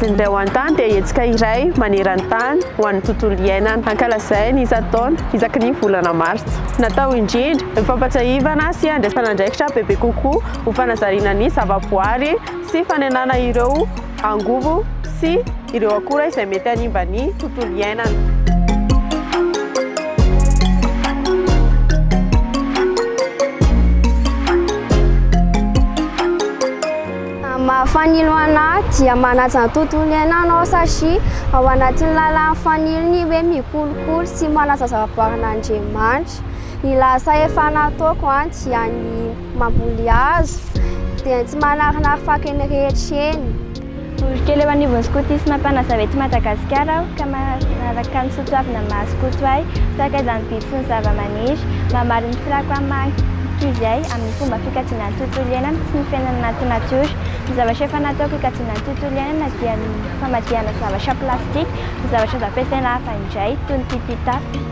Ny ho an-tany dia hetsika iray maneran-tany ho an'ny tontolo iainana hankalazaina isan-taona isaky ny volana martsa. Natao indrindra ny fampatsiahivana sy andraisana andraikitra bebe kokoa ho fanazariana ny zavaboary sy fanenana ireo angovo sy ireo akora izay mety hanimba ny tontolo iainana. Mahafanilo anah dia manaja ny tontolo iainana anao satria ao anatin'ny lalan'ny fanilo ny hoe mikolokolo sy manaja zavaboarin'Andriamanitra. Ny lasa efa nataoko dia ny Mamboly hazo, dia tsy manarinary fako eny rehetra eny. Olo kely eo anivon'ny skotisma mpanazava eto Madagasikara aho ka manaraka ny soatoavina maha skoto ahy tahaka izany biby sy ny zavamaniry. Mamaly ny firako amin'ny maha ankizy ahy amin'ny fomba fikajiana ny tontolo iainana sy ny fiainana anaty natiora. Ny zavatra efa nataoko hikajiana ny tontolo iainana dia ny famadihana zavatra plastika ho zavatra azo ampiasaina hafa indray toy ny pipitapy.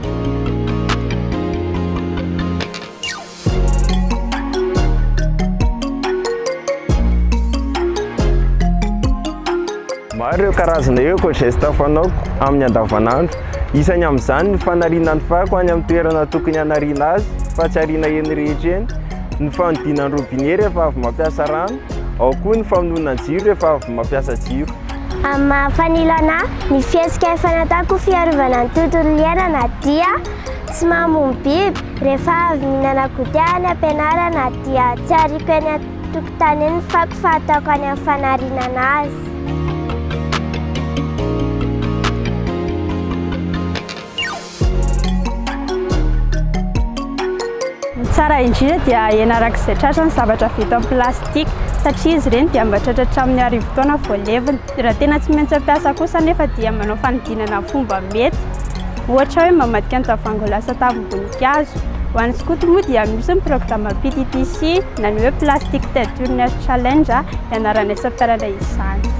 Maro ireo karazana ireo éco-gestes fanaoko amin'ny andavanandro. Isany amin'izany ny fanariana ny fako any amin'ny toerana tokony hanariana azy fa tsy ariana eny rehetra eny, ny fanodinana ny robinet rehefa avy mampiasa rano, ao koa ny famonoana ny jiro rehefa avy mampiasa jiro. Amin'ny maha fanilana ahy, ny fihetsika efa nataoko fiarovana ny tontolo iainana dia tsy mamono biby Rehefa avy mihinana goûter any am-pianarana dia tsy ariako eny an-tokotany eny ny fako fa ataoko any amin'ny fanarinana azy. Ny tsara indrindra dia ahena araka izay tratra ny zavatra vita amin'ny plastika satria izy ireny dia mba tratra hatramin'ny arivo taona vao levona. Raha tena tsy maintsy mampiasa kosa anefa dia manao fanodinana ny fomba mety, ohatra hoe mamadika ny tavoahangy ho lasa tavim-boninkazo. Ho an'ny skoto moa dia misy ny programa PTTC na ny hoe Plastic Tentures Challenge ianaranay sy ampianarinay izany.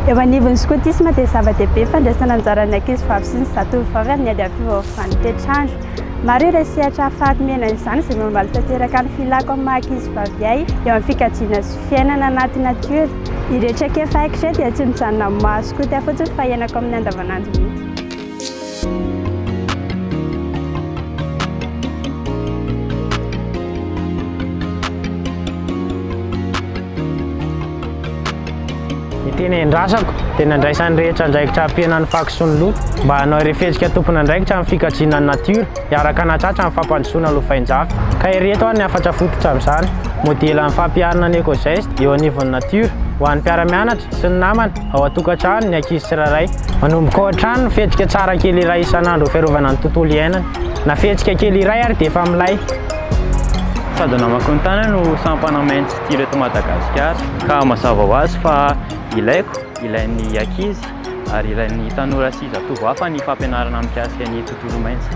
Eo anivon'ny skotisma dia zava-dehibe ny fandraisana anjara ny ankizy vavy sy ny zatovovavy amin'ny ady amin'ny fiovaovan'ny toetr'andro. Maro ireo sehatra hahafaty mena izany izay mamaly tanteraka ny filako amin'ny maha ankizy vavy ahy eo amin'ny fikajiana sy fiainana anaty natiora. Ireo traikefa haiko izay dia tsy mijanona amin'ny maha skoty ahy fotsiny fa iainako amin'ny andavanandro mihitsy. Ny tena endrasako dia nandraisan'ny rehetra andraikitra hampihenana ny fako sy ny loto mba hanao ireo fihetsika tompon'andraikitra amin'ny fikajiana ny natiora hiaraka hanatratra ny fampandrosoana lovain-jafy. Ka ery eto ary ny hafatra fototra amin'izany, modelan'ny fampiharana ny Ecogeste eo anivon'ny natiora ho an'ny mpiara-mianatra sy ny namana Ao an-tokantrano ny ankizy tsirairay. Manomboka ao an-trano ny fihetsika tsara kely iray isan'andro ho fiarovana ny tontolo iainana. Na fihetsika kely iray ary dia efa milay. Sady namaky ny tany aho no sampana main tsy tia ireto Madagasikara ka mazava ho azy fa ilaiko, ilain'ny ankizy ary ilain'ny tanora sy zatovo hafa ny fampianarana mikasika ny tontolo maintso.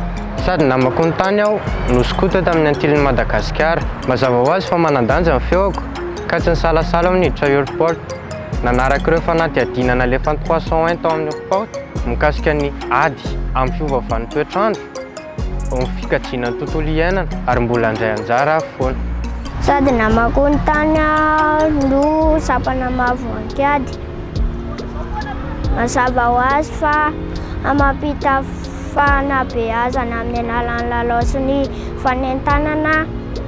Sady namaky ny tany aho no skoto tamin'ny antilin'i Madagasikara. Mazava ho azy fa manan-danja ny feoko ka tsy nisalasala aho niditra airport. Nanaraka ireo fanadihadiana nalefan'ny trois cent un tao amin'ny Rport mikasika ny ady amin'ny fiovaovan'ny toetr'andro eo amin'ny fikajiana ny tontolo iainana ary mbola handray anjara aho foana. Sady namakoa ny tany aho no sampana maha voankiady. Mazava ho azy fa hamampita fanabeazana amin'ny alalan'ny lalao sy ny fanentanana.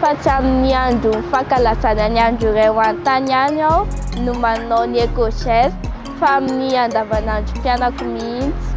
fa tsy amin'ny andron'ny fankalazana ny andro iray ho an'ny tany ihany aho no manao ny Ecogest fa amin'ny andavanandron'ny mpianako mihitsy.